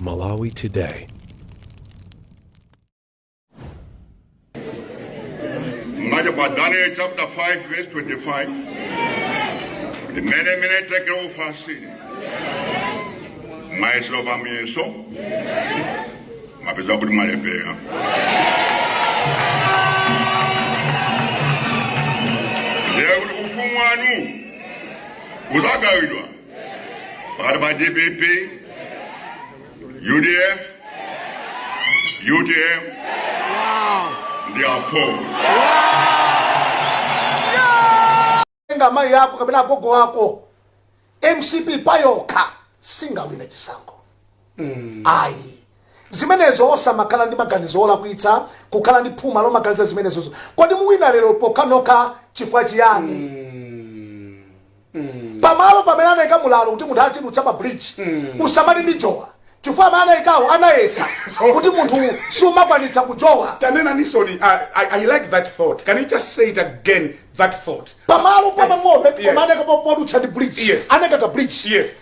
Malawi Today. Mwacha kwa Daniel chapter 5 verse 25. Mene mene tekel ufarsin. Mwayesedwa pa muyeso. Mwapezeka kuti mwalephera. Ndiye kuti ufumu wanu uzagawidwa pakati pa dpp udf utm ndi aford ngati amayi ako kapena agogo ako mcp payokha singawine chisankho mm. ayi zimenezo osamakhala ndi maganizo olakwitsa kukhala ndi phuma lomaganiza zimenezozo kodi muwina lero pokanika chifukwa chiyani mm. mm. pamalo pamene anayika mlatho kuti munthu azidutsa pa bridge mm. usamati ndijowa chifukwa amene anayikawo anayesa kuti munthu sumakwanitsa kujowa tanena nisoni I, I, i like that thought can you just say it again that thought pamalo pomwe pompo Yes. koma anayika podutsa ndi bridge Yes. anayika ka bridge Yes.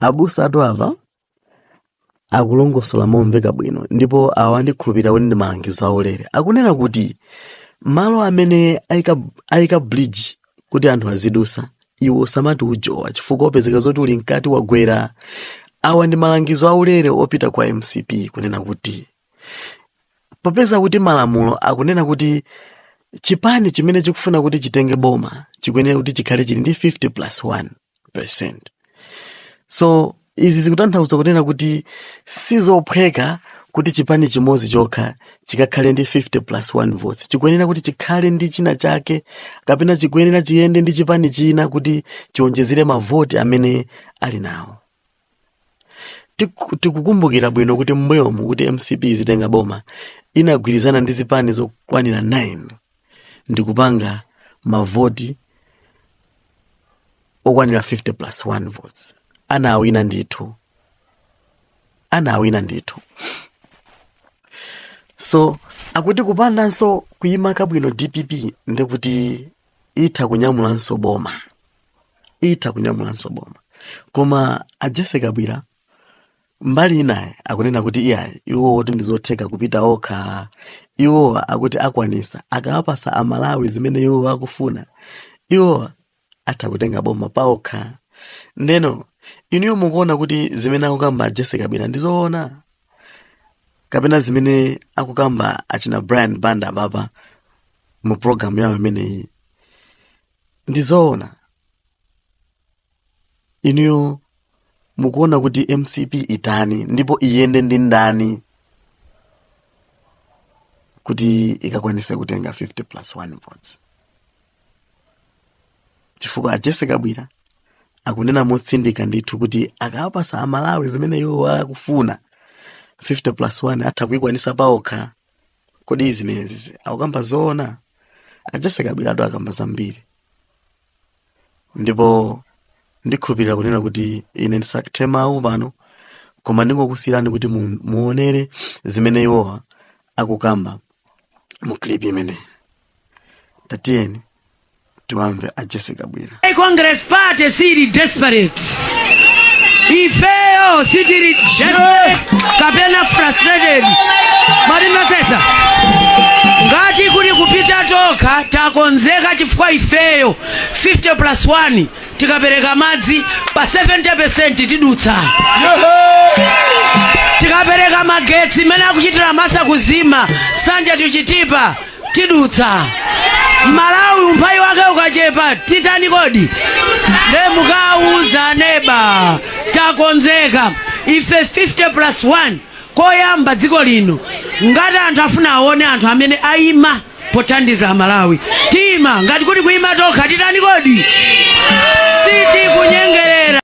abusa athu apa akulongosola momveka bwino ndipo awa ndikhulupirira kuti ndi malangizo aulere akunena kuti malo amene ayika, ayika bridge kuti anthu azidusa iwe usamati ujowa chifukwa upezeka zoti uli mkati wagwera awa ndi malangizo aulere opita kwa mcp kunena kuti popeza kuti malamulo akunena kuti chipani chimene chikufuna kuti chitenge boma chikuyenera kuti chikhale chili ndi 50 plus 1 percent so izi zikutanthauza kunena kuti sizophweka kuti chipani chimodzi chokha chikakhale ndi 50 plus 1 votes chikuyenera kuti chikhale ndi china chake kapena chikuyenera chiyende ndi chipani china kuti chiwonjezere mavoti amene ali nawo Tiku- tikukumbukira bwino kuti mmbuyomu kuti mcp izatenge boma inagwirizana ndi zipani zokwanira 9 ndikupanga mavoti okwanira 50 plus 1 votes anawina ndithu anawina ndithu so akuti kupandanso kuyima kabwino dpp ndikuti itha kunyamulanso boma itha kunyamulanso boma koma a Jessie Kabwila mbali inayi akunena kuti iyayi iwo akuti ndizotheka kupita okha iwo akuti akwanisa akawapasa amalawi zimene iwo akufuna iwo atha kutenga boma paokha ndeno inuyo mukuona kuti zimene akukamba a Jessie Kabwila ndizoona kapena zimene akukamba achina brian banda apapa mu programu yawo imeneyi ndi zoona inuyo mukuona kuti mcp itani ndipo iyende ndi ndani kuti ikakwanise kutenga 50 plus 1 votes chifukwa a jesse kabwira akunena motsindika ndithu kuti akawapasa amalawi zimene iwo akufuna 50 plus 1 atha kuikwanisa paokha kodi zimenezi akukamba zoona a jesse kabwiratu akamba zambiri ndipo ndikhulupirira kunena kuti ine ndisakuthe mawu pano koma ndingokusiyirani kuti mu- muonere zimene iwowa akukamba mu clip imeneyi tatiyeni tiwamve a jesse kabwira Hey, Congress Party siili desperate. Ifeyo sitili desperate kapena frustrated. Mundimvetsetse. Ngati kuli kupita tokha takonzeka chifukwa ifeyo 50 plus 1 tikapereka madzi pa 70% tidutsa. Tikapereka magetsi mene akuchitira masa kuzima sanja tuchitipa tidutsa. Malawi umphawi wake ukachepa titani kodi? Nde mukauza aneba takonzeka ife 50 plus 1 koyamba dziko lino ngati anthu afuna awone anthu amene aima pothandiza amalawi tiima ngati kuli kuima tokha titani kodi sitikunyengerera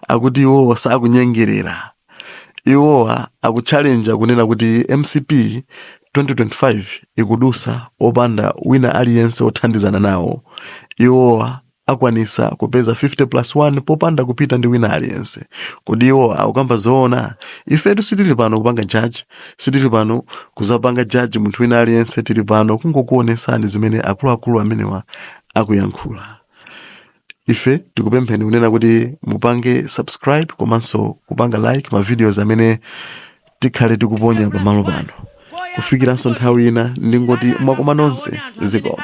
akuti iwowo sakunyengerera Iwowa akutchalenja kunena kuti mcp 2025 ikudusa opanda wina aliyense othandizana nawo. Iwowa akwanisa kupeza 50 plus 1 popanda kupita ndi wina aliyense. Kodi iwowa akukamba zoona? Ifetu sitili pano kupanga judge, sitili pano kuzapanga judge munthu wina aliyense tili pano kungokuonesani zimene akuluakulu amenewa akuyankhula. ife tikupempheni kunena kuti mupange subscribe komanso kupanga like ma videos amene tikhale tikuponya pamalo pano kufikiranso nthawi ina ndingoti mwakoma nonse zikomo